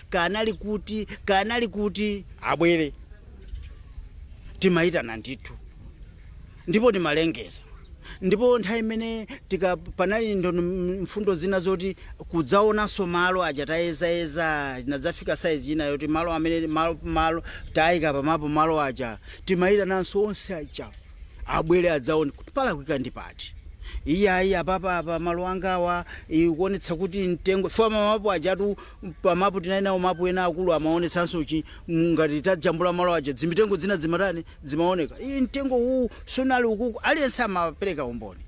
kanali kuti kanali kuti abwere timayitana ndithu ndipo timalengeza ndipo nthawi imene tika- panali ndono mfundo zina zoti kudzaonanso malo aja tayezayeza inadzafika saizi ina yoti malo amene malo, malo tayika pamapu malo aja timayitananso onse aja abwere adzaone kuti palakwika ndi pati iyayi apapa apa malo angawa ikuonetsa kuti mtengo fa mapu ajatu pamapu tinali nawo mapu ena akulu amaonetsanso chi m- ngati tajambula malo aja zimitengo zina dzimatani dzimaoneka iyi mtengo uwu sunali ukuku aliyense amapereka umboni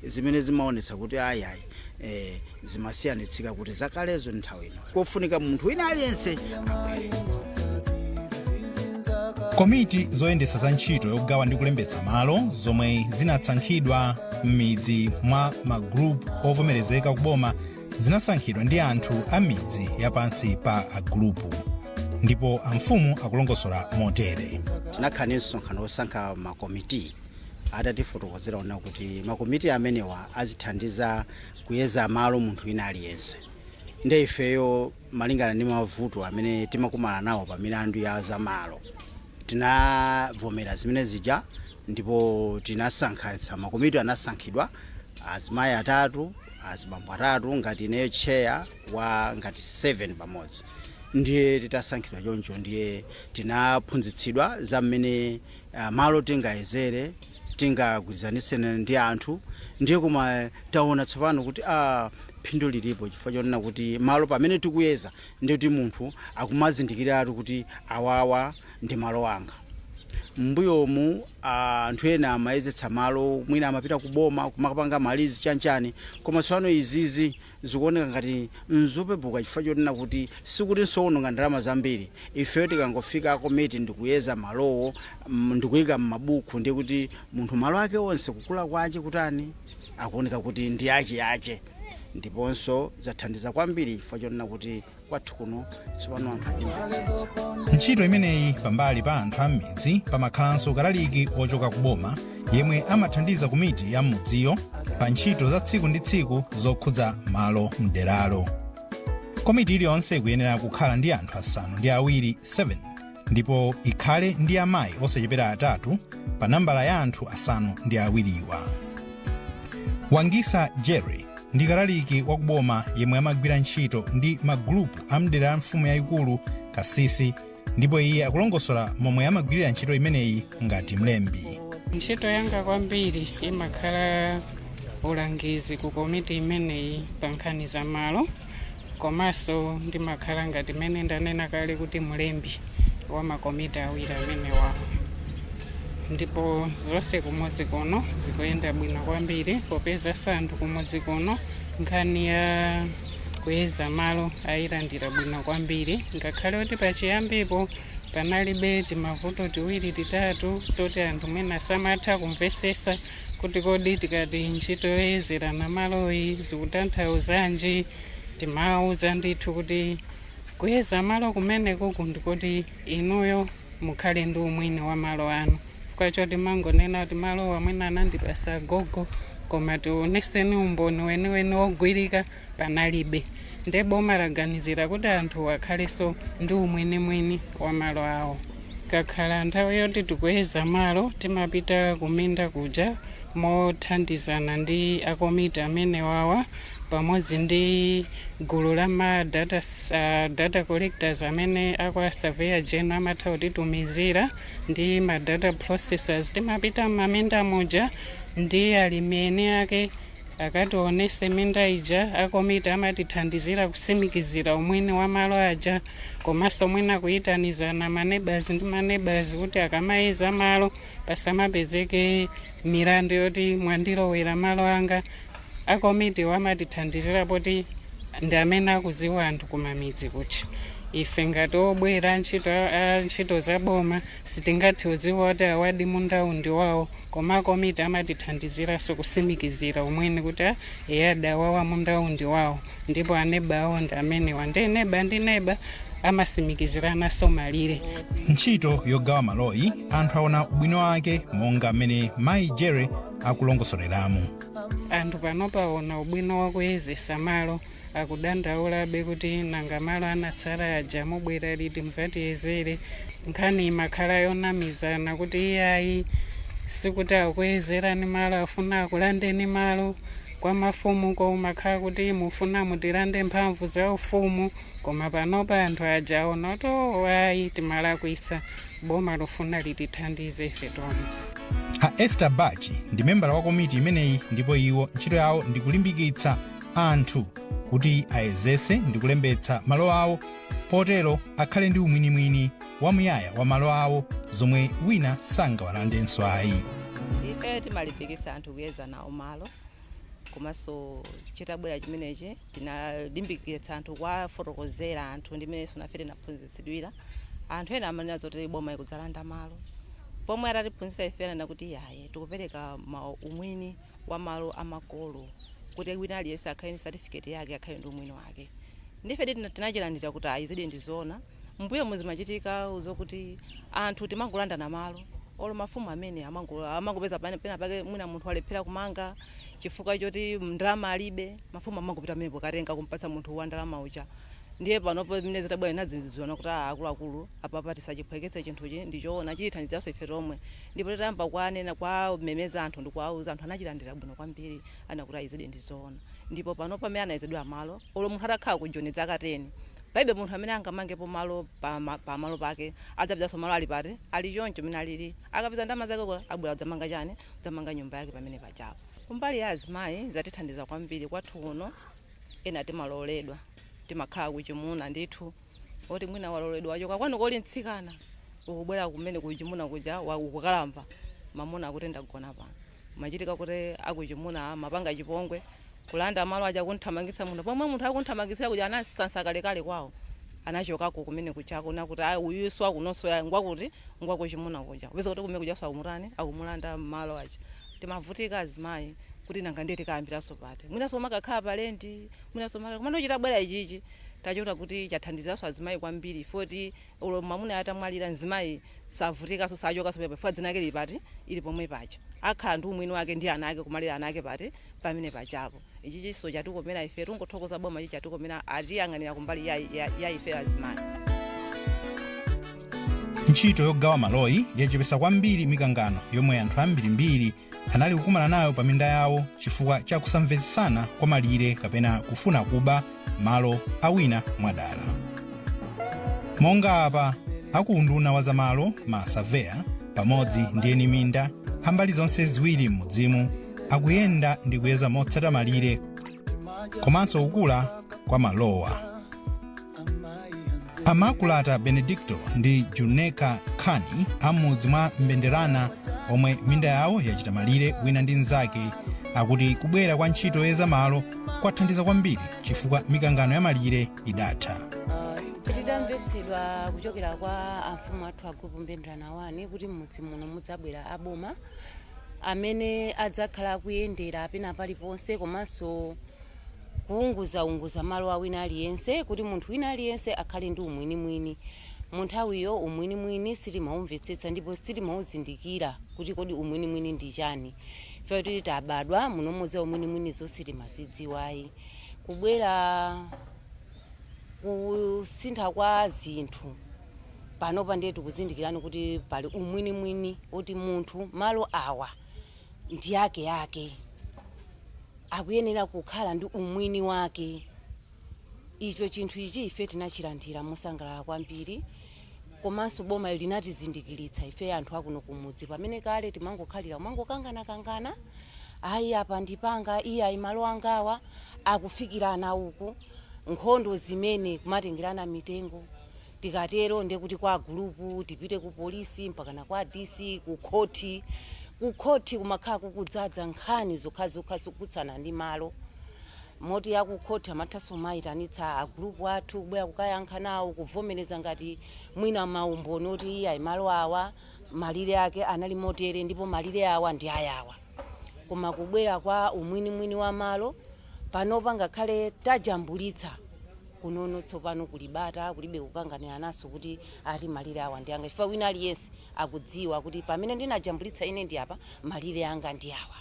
zimene zimaonetsa kuti ayi ayi eh, zimasiyanitsika kuti zakalezo ndi nthawi ino kofunika munthu wina aliyense abwere komiti zoyendetsa za ntchito yogawa ndi kulembetsa malo zomwe zinasankhidwa m'midzi mwa magrupu ovomerezeka kuboma zinasankhidwa ndi anthu a midzi yapansi pa agrupu ndipo amfumu akulongosola motere tinakhala ndi msonkhano wosankha makomiti atatifotokozera ona kuti makomiti amenewa azithandiza kuyeza malo munthu wina aliyense nde ifeyo malingana ndi mavuto amene timakumana nawo pa milandu ya zamalo tinavomera zimene zija ndipo tinasankha makomiti anasankhidwa azimayi atatu azibambo atatu ngati ineyo cheya wa nambala 7 pamodzi ndiye titasankhidwa choncho ndiye tinaphunzitsidwa za mmene Ah, malo tingayezere tingagwirizanitse ndi anthu ndiye koma taona tsopano kuti ah, phindu lilipo chifukwa chonena kuti malo pamene tikuyeza ndiye kuti munthu akumazindikiratu kuti awawa ndi malo anga mbuyomu anthu ena amayezetsa malo mwina amapita kuboma kumakapanga malizi chanchani koma tsopano izizi Zikuoneka ngati n'zopepuka chifukwa chonena kuti sikuti n'zoononga ndalama zambiri. Ifeyo tikangofika a komiti ndi kuyeza malowo mm ndi kuika m'mabuku ndiye kuti munthu malo ake onse kukula kwache kutani akuoneka kuti ndi acheache ndiponso zathandiza kwambiri chifukwa chonena kuti kwathu kuno tsopano anthu akumvetsetsa ntchito imeneyi pambali pa anthu a m'midzi pamakhalanso kalaliki wochoka ku boma yemwe amathandiza komiti ya m'mudziyo pa ntchito za tsiku ndi tsiku zokhudza malo mderalo komiti iliyonse ikuyenera kukhala ndi anthu asanu ndi awiri 7 ndipo ikhale ndi amayi osachepera atatu pa nambala ya anthu asanu ndi awiriwa wangisa jerry ndi kalaliki wa kuboma yemwe amagwira ntchito ndi magulupu a mdera la mfumu yayikulu kasisi ndipo iye akulongosola momwe amagwirira ntchito imeneyi ngati mlembi ntchito yanga kwambiri imakhala ulangizi ku komiti imeneyi pa nkhani za malo Komanso ndimakhala ngati mmene ndanena kale kuti mlembi wa makomiti awiri amenewa, ndipo zonse kumudzi kuno zikuyenda bwino kwambiri popeza anthu kumudzi kuno nkhani ya kuyeza malo ayilandira bwino kwambiri ngakhale kuti pachiyambipo panalibe timavuto tiwiri titatu toti anthu mwina samatha kumvesesa kuti kodi tikati ntchito yoyezerana maloyi zikutanthauzanji timawuza ndithu kuti kuyeza malo kumeneku ndikoti inuyo mukhale ndi umwini wa malo anu chifukwa choti mangonena kuti malowa mwina anandipasa agogo koma tioneseni umboni weniweni wogwirika panalibe nde boma laganizira kuti anthuwa akhaleso ndi umwinimwini wa malo awo. Ikakhala nthawi yoti tikuyeza malo timapita kuminda kuja mothandizana ndi a komiti amenewawa pamodzi ndi gulu la ma data, uh, data collectors amene akwa Surveyor General amatha kutitumizira ndi ma data processors timapita m'maminda muja ndi alimi eni ake Akationese minda ija a komiti amatithandizira kusimikizira umwini wa malo aja komanso mwina kuyitanizana ma neighbours ndi ma neighbours kuti akamayeza malo pasamapezeke milandu yoti mwandilowera malo anga. A komitiwo amatithandizira poti ndi amene akudziwa anthu kumamidzi kuja. Ife ngati obwera a ntchito za boma sitingathe kudziwa kuti awadi mundawu ndi wawo. Koma akomiti amatithandiziranso kusimikizira umwini kuti a eya adawawa mundawu ndi wawo ndipo aneba awo ndi amenewa ndiye neba ndi neba amasimikizirananso malire. Ntchito yogawa maloyi anthu aona ubwino wake monga mmene mayi Jere akulongosoleramu. Anthu pano paona ubwino wakuyezesa malo akudandaulabe kuti nanga malo anatsala aja mubwera liti muzatiyezere nkhani imakhala yonamizana kuti iyayi sikuti akuyezerani malo afuna akulandeni malo kwa mafumu kumakhala kuti mufuna mutilande mphamvu za ufumu koma panopa anthu aja aona kuti "Oh, ayi timalakwisa boma lufuna litithandize ife tomwe a Esther Bachi ndi membala wa komiti imeneyi ndipo iwo ntchito yawo ndi kulimbikitsa anthu kuti ayezese ndi kulembetsa malo awo potero akhale ndi umwinimwini wamuyaya wa malo awo zomwe wina sangawalandenso ayi ife timalimbikisa anthu kuyeza nawo malo komanso chitabwera chimenechi tinalimbikitsa anthu kuwafotokozera anthu ndi mmeneso nafe tinaphunzitsidwira anthu ena amanena zoti boma likudzalanda malo pomwe atatiphunzitsa ife anena kuti yaye tikupereka ma umwini wa malo a makolo kuti wina aliyense akhale ndi certificate yake akhale ndi umwini wake ndife tina- tinachilandira kuti ayi izidi ndi zoona mbuyomu zimachitika zokuti anthu timangolandana malo olo mafumu amene amango- amangopeza pane- pena pake mwina munthu walephera kumanga chifukwa choti ndalama alibe mafumu amangopita pamenepo kukatenga kumpatsa munthu wa ndalama uja ndiye panopo mmene zitabwera tinadziwitsana kuti "Ah, akuluakulu apapa tisachipeputse chinthuchi ndichoona chitithandizanso ife tomwe Ndipo titayamba kuwamema, kuwamemeza anthu ndi kuwauza, anthu anachilandira bwino kwambiri, anaona kuti ayi izidi ndi zoona. Ndipo panopa amene anayezedwera malo, olo munthu atakhala ku Joni dzaka teni, palibe munthu amene angamangepo malo pa ma, pa malo pake, adzapezanso malo ali pati, ali choncho m'mene alili. Akapeza ndalama zake uko, abwera kudzamanga chani, kudzamanga nyumba yake pamene pajapo. Kumbali ya azimayi, zatithandiza kwambiri. Kwathu kuno, ena timalowoledwa, timakhala kuchimuna ndithu. oti mwina walowoledwa wachoka kwanuko uli mtsikana ukubwera kumene kuchimuna kuja wa- ukukalamba mamuna wakuti ndagona pano zimachitika kuti akuchimuna amapanga chipongwe kulanda malo aja kunthamangitsa munthu pomwe munthu akunthamangitsira kuja anasansa kalekale kwawo anachokako kumene kujako nkuti ayi uyu si wa kunonso ya ngwakuti ngwakuchimuna kuja mupeza kuti kumene kuja sakumutani akumulanda malo aja timavutika azimayi kuti nanga ndiye tikayambiranso pati mwinanso timakakhala pa lendi mwinanso maka- komano chitabwera ichichi Tachiona kuti chathandizanso azimayi kwambiri chifukwa choti olo mamunayo atamwalira mzimayi savutikaso sachokaso pomwepo chifukwa dzina lake lili pati? Lili pomwe paja. Akhala ndi umwini wake ndi ana ake kumalera ana ake pati? Pamene pajapo. Ichichiso chatikomera ife tungothokoza boma ichi chatikomera atiyang'anira kumbali ya ya ya ife azimayi. Ntchito yogawa maloyi yachepesa kwambiri mikangano yomwe anthu ambirimbiri anali kukumana nayo pa minda yawo chifukwa cha kusamvetsetsana kwa malire kapena kufuna kuba malo a wina mwadala monga apa akuunduna wa zamalo masaveya pamodzi ndi eni minda ambali zonse ziwiri m'mudzimu akuyenda ndi kuyeza motsata malire komanso kukula kwa malowa a makulata benedicto ndi juneka khani am'mudzi mwa mbenderana omwe minda yawo yachita malire wina ndi mnzake akuti kubwera kwa ntchito yoyeza malo kwathandiza kwambiri chifukwa mikangano ya malire idatha tidamvetsedwa kuchokera kwa amfumu athu a group mbenderana wani kuti m'mudzi muno mudzabwera aboma amene adzakhala akuyendera pena paliponse komanso kuunguzaunguza malo a wina aliyense kuti munthu wina aliyense akhale ndi umwinimwini. Mu nthawiyo umwinimwini sitimaumvetsetsa ndipo sitimauzindikira kuti kodi umwinimwini ndi chani. Chifukwa choti tabadwa munomo za umwinimwinizo sitimazidziwa ayi. Kubwera kusintha kwa zinthu panopa ndiye tikuzindikirano kuti pali umwinimwini woti munthu malo awa. ndi ake ake akuyenera kukhala ndi umwini wake icho chinthu ichi ife tinachilandira mosangalala kwambiri komanso boma linatizindikiritsa ife anthu akuno kumudzi pamene kale timangokhalira kumangokangana kangana ayi apa ndi panga iyayi malo angawa akufikirana uku nkhondo zimene kumatengerana mitengo Tikatero ndiye kuti kwa agulupu, tipite ku polisi, mpakana kwa DC, ku khoti. Ku khoti kumakhala kukudzaza nkhani zokhazokha zokutsana ndi malo moti a ku khoti amathanso kumaitanitsa agulupu athu kubwera kukayankha nawo, kuvomereza ngati mwina maumboni oti iyayi malo awa malire ake anali motere ndipo malire awa ndi ayawa. Koma kubwera kwa umwinimwini wa malo, Panopa ngakhale tajambulitsa kunono tsopano kuli bata, kulibe kukanganirananso kuti ati malire awa ndi anga chifukwa wina aliyense akudziwa kuti pamene ndinajambulitsa ine ndi apa, malire anga ndi awa.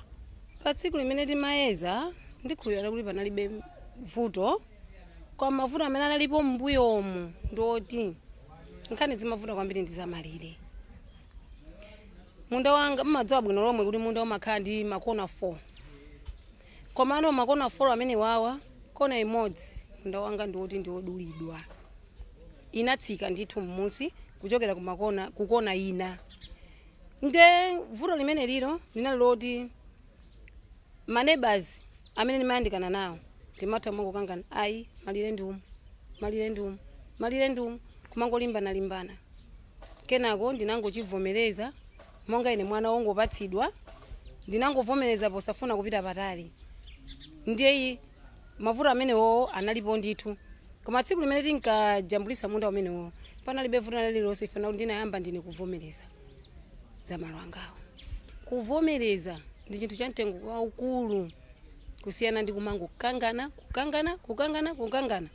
Pa tsiku limene timayeza ndikhulupirira kuti panalibe vuto koma mavuto amene analipo m'mbuyomu ndi oti nkhani zimavuta kwambiri ndi za malire. Munda wanga mumadziwa bwino lomwe kuti munda umakhala ndi makona 4. Komano makona 4 amenewawa, kona imodzi, munda wanga ndi woti ndi wodulidwa, inatsika ndithu m'munsi kuchokera ku makona, ku kona ina. Nde vuto limenelilo linali loti ma neighbours amene ndimayandikana nawo ndimatha kumangokangana, ayi malire ndi umu, malire ndi umu, malire ndi umu, kumangolimbanalimbana. Kenako ndinangochivomereza. Monga ine mwana wongopatsidwa, ndinangovomereza posafuna kupita patali. Ndiye i. mavuto amenewowo analipo ndithu. Koma tsiku limene tinkajambulitsa munda umenewo, panalibe vuto lina lililonse chifukwa nakuti ndinayamba ndine kuvomereza za malo angawo. Kuvomereza ndi chinthu cha mtengo waukulu kusiyana ndi kumangokangana, kukangana, kukangana, kukangana.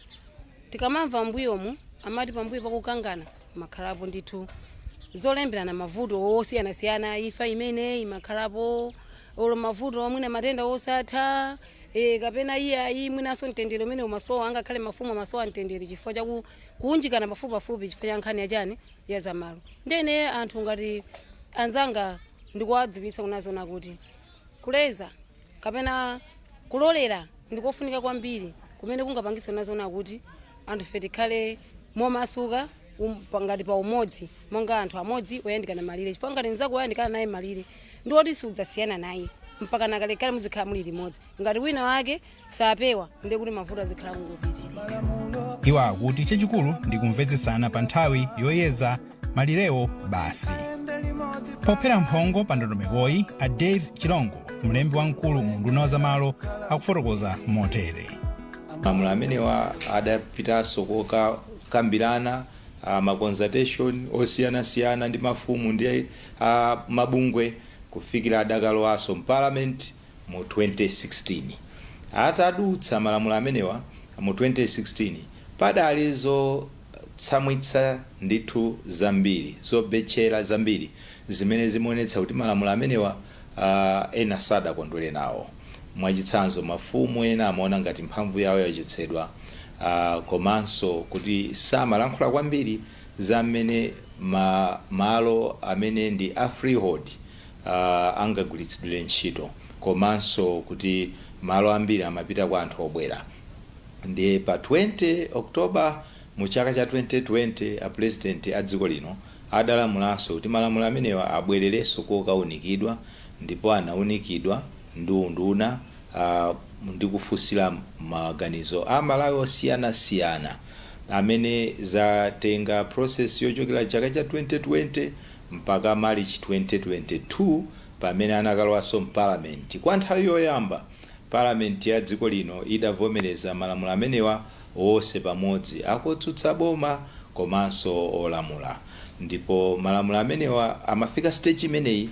Tikamamva m'mbuyomu amati pambuyo pa kukangana makhalapo ndithu zolemberana mavuto osiyanasiyana imfa imene imakhalapo olo mavuto a mwina matenda osatha e, kapena iyayi mwinanso mtendere umene umasowa angakhale mafumu amasowa mtendere chifukwa cha ku- kuunjikana pafupipafupi chifukwa cha nkhani yachani ya zamalo ndene anthu ngati anzanga ndikuwadziwitsa kunena zoona kuti Kuleza kapena kulolera ndi kofunika kwambiri kumene kungapangitse kunena zoona kuti anthufe tikhale momasuka um, pa- ngati pa umodzi monga anthu amodzi oyandikana malire chifukwa ngati mnzako woyandikana naye malire ndi woti siudzasiyana naye mpaka na kalekale muzikhala muli limodzi ngati wina wake sapewa ndiye kuti mavuto azikhala kungopitirira iwo akuti chachikulu ndi kumvetsetsana pa nthawi yoyeza malirewo basi pophera mphongo pa ndondomekoyi a dave chilongo mlembi wamkulu mu unduna wa zamalo akufotokoza motere malamulo amenewa adapitanso kokakambirana uh, maconsultation osiyanasiyana ndi mafumu ndi uh, mabungwe kufikira adakalowanso mparliament mu 2016. Atadutsa malamulo amenewa mu 2016, padali zotsamwitsa ndithu zambiri, zobetchera zambiri zimene zimaonetsa kuti malamulo amenewa ena sadakondwere nawo. Mwachitsanzo, mafumu ena amaona ngati mphamvu yawo yachotsedwa komanso kuti samalankhula kwambiri za mmene malo amene ndi a freehold angagwiritsidwire ntchito komanso kuti malo ambiri amapita kwa anthu obwera ndiye pa 20 October mu chaka cha 2020 a Pulezidenti a dziko lino adalamulanso kuti malamulo amenewa abwererenso kokaunikidwa ndipo anaunikidwa ndi unduna ndi kufunsira maganizo a Malawi osiyanasiyana amene zatenga process yochokera chaka cha 2020 mpaka Malichi 2022 pamene anakalowanso m'Parliament kwa nthawi yoyamba. Parliament ya dziko lino idavomereza malamulo amenewa onse pamodzi, a kotsutsa boma komanso olamula. Ndipo malamulo amenewa amafika stage imeneyi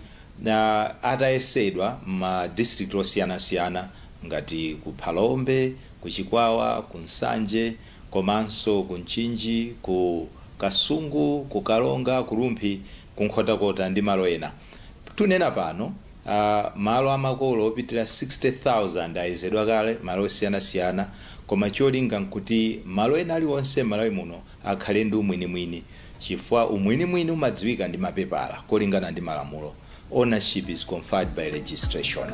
atayesedwa m'ma district osiyanasiyana ngati ku Phalombe, ku Chikwawa, ku Nsanje, komanso ku Mchinji, ku Kasungu, ku Karonga, ku Rumphi, ku Nkhotakota ndi malo ena. Tunena pano, malo a makolo opitirira 60,000 ayezedwa kale malo osiyanasiyana koma cholinga n'kuti malo ena aliwonse m'Malawi muno akhale ndi umwinimwini. Chifukwa umwinimwini umadziwika ndi mapepala kolingana ndi malamulo Ownership is conferred by registration.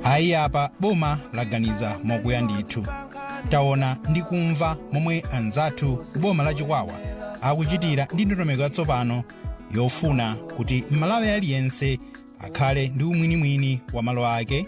Ayi apa boma laganiza mokuya ndithu. Taona ndi kumva momwe anzathu ku boma la Chikwawa akuchitira ndi ndondomeko yatsopano yofuna kuti Mmalawi aliyense akhale ndi umwinimwini wa malo ake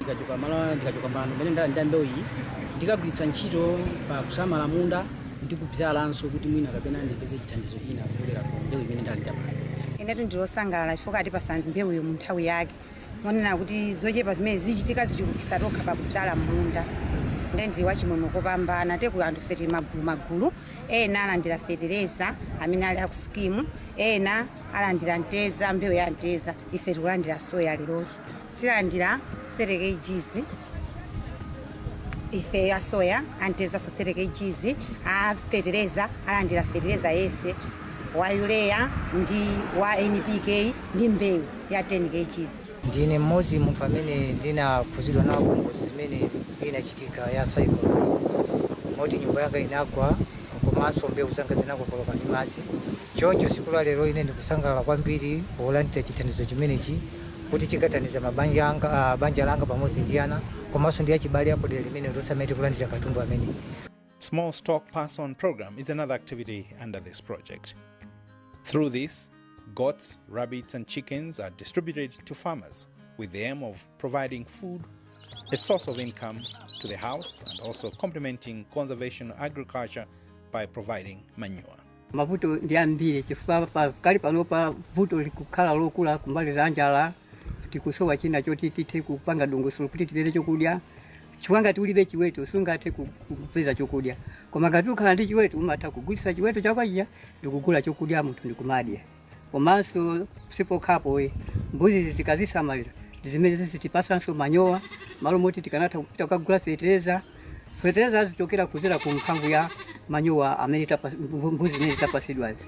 ndikachoka pano mmene ndalanda mbewuyi ndikagwiritsa ntchito pa kusamala munda ndi kubzalanso kuti mwina kapena ndipeze chithandizo china kuchokera ku mbewu imene ndalandayi inetu ndili osangalala chifukwa atipasa mbewuyo mu nthawi yake monena kuti zochepa zimene zichitika tichulukitsa tokha pakubzala munda nde ndi wachimwemwe kopambana teku anthu ife tili magulu magulu ena alandira fetereza amene ali aku skimu ena alandira mtedza mbewu ya mtedza ife tikulandira soya leroli tilandira 30 kgs ife ya soya antezanso 30 kgs afetereza alandira fetereza yense wa urea ndi wa npk ndi mbewu ya 10 kgs ndine mmodzi munthu amene ndinakhuzidwa nawo ngozi imene inachitika ya cyclone moti nyumba yanga inagwa komanso mbewu zanga zinakokoloka ndi madzi choncho siku la lero ine ndikusangalala kwambiri polandira chithandizo chimenechi kuti chikathandiza mabanja anga, ah, banja langa pamodzi ndi ana komanso ndi achibale aku dera limeneli tonse amene tikulandira katundu ameneyu Small Stock Pass On program is another activity under this project. Through this, goats, rabbits, and chickens are distributed to farmers with the aim of providing food, a source of income to the house, and also complementing conservation agriculture by providing manure. Mavuto ndi ambiri chifukwa pakali panopa vuto likukhala lokula kumbali ya njala, tikusowa china choti tithe kupanga dongosolo kuti tipeze chokudya. Chifukwa ngati ulibe chiweto sungathe ku- ku- kupeza chokudya, koma ngati ukhala ndi chiweto umatha kugulitsa chiweto chako chija ndikugula chokudya munthu ndikumadya. Komanso sipokhapo mbuzizi tikazisamalira ndizimene zizitipatsanso manyowa malo moti tikanatha kupita kukagula fetereza fetereza azichokera kuzera ku mphamvu ya manyowa amene tapa- mbu- mbuzi zimene tapatsidwazi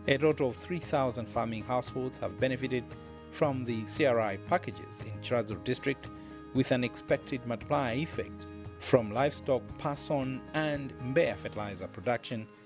A total of 3,000 farming households have benefited from the CRI packages in Chiradzulu district with an expected multiplier effect from livestock pass on and Mbeya fertilizer production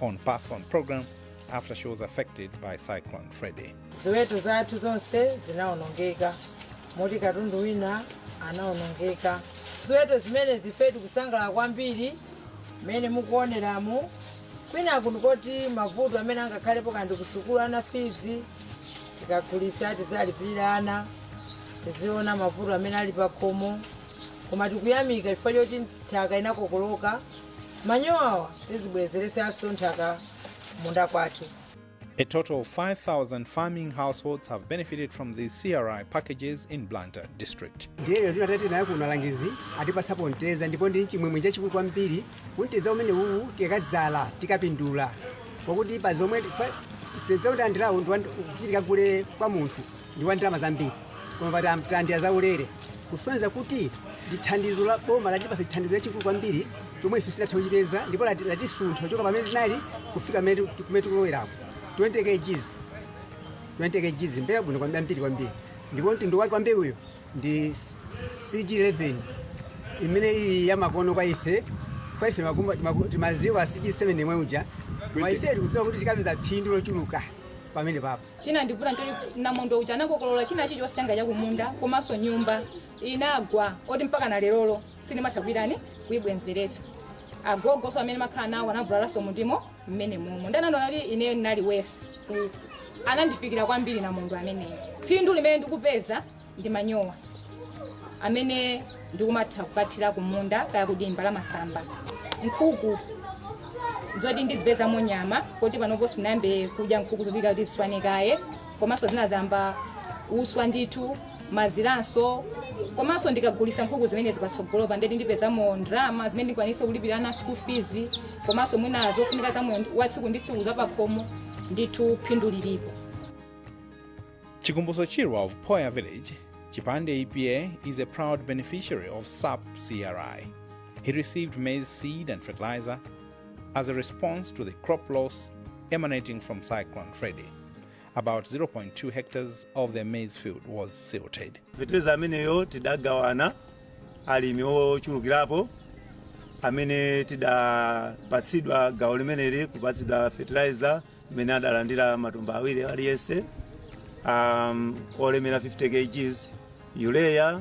on Pass On program after she was affected by Cyclone Freddy. ziweto zathu zonse zinaonongeka moti katundu wina anaonongeka ziweto zimenezi ife tikusangalala kwambiri mmene mukuoneramu kunena kuti mavuto amene angakhalepo kaya ndi kusukulu ana fizi tikagulitsa tizalipirira ana tiziona mavuto amene ali pakhomo koma tikuyamika chifukwa choti nthaka inakokoloka Manyowawa tizibwezeresanso nthaka kumunda kwathu. A total of 5,000 farming households have benefited from these CRI packages in Blantyre district. ndiye lero titabwera nawo kuno alangizi atipatsapo mtedza ndipo ndi chimwemwe chachikulu kwambiri kuti mtedza umenewu tikakadzala tikapindula pakuti pa zomwe pa- mtedza talandirawu kuti tikagule kwa munthu ndi wa ndalama zambiri koma pamene talandira zaulere kusonyeza kuti ndithandizo la boma latipasa chithandizo chachikulu kwambiri chomwe ife sitatha kuchipeza ndipo lati- latisuntha kuchoka pamene tinali kufika pamene tiku- kumene tikulowerapo 20 kgs 20 kgs mbewu bwino kwambiri ambiri kwambiri ndipo mtundu wake wa mbewuyo ndi cg 11 imene ili yamakono kwa ife kwa ife makumba- maku- timaziwa cg 7 yomwe ija koma ife tikudziwa kuti tikapeza phindu lochuluka pamenepapo Chinandivuta nchoti namondwe uja anakokolola china chilichonse changa chakumunda komanso nyumba inagwa oti mpakana lerolo sindimatha kuitani kuibwenzeretsa. Agogonso amene ndimakhala nawo anavulalanso mundimo mmenemomo. Ndiye anandiona kuti ineyo ndinali worse. Anandifikira kwambiri namondwe ameneyo. Phindu limene ndikupeza, ndi manyowa amene ndikumatha kukathira kumunda kaya kudimba la masamba nkhuku zoti ndizipezamo nyama poti panopo sinayambe kudya nkhuku zopika kuti ziswane kaye komanso zinayamba uswa ndithu maziranso komanso ndikagulisa nkhuku zimenezi patsogolopa nde kuti ndipezamo ndalama zimene ndikwanise kulipira ana school fees komanso mwina zofunika za moyo wa tsiku ndi tsiku zapakhomo ndithu phindu lilipo Chikumbutso Chirwa of Poya Village, Chipande EPA is a proud beneficiary of SAPP CRI. He received maize seed and fertilizer as a response to the crop loss emanating from Cyclone Freddy. About 0.2 hectares of their maize field was silted. fetereza ameneyo tidagawana alimi ochulukirapo amene tidapatsidwa gawo limeneli kupatsidwa fertilizer mmene adalandira matumba awiri aliyense um, olemera 50 kgs urea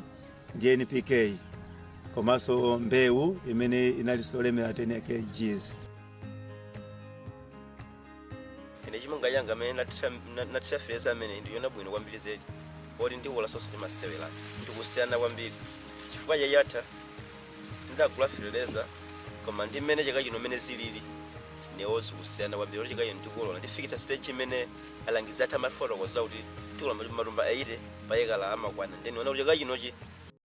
ndi npk komanso mbewu imene inalinso olemera 10 kgs ine chimanga changa mmene nathira fetereza amene ndiona bwino kwambiri zedi poti ndikolola osati masewera ndikusiyana kwambiri chifukwa chaka chatha ndagula fertilizer koma ndi mmene chaka chino mmene zilili mbewu zikusiyana kwambiri kuti chaka chino ndikolola ndifikitsa stage imene alangizi athu amafotokoza kuti tikolola matumba 80 pa ekala amakwana nde ndiona kuti chaka chinochi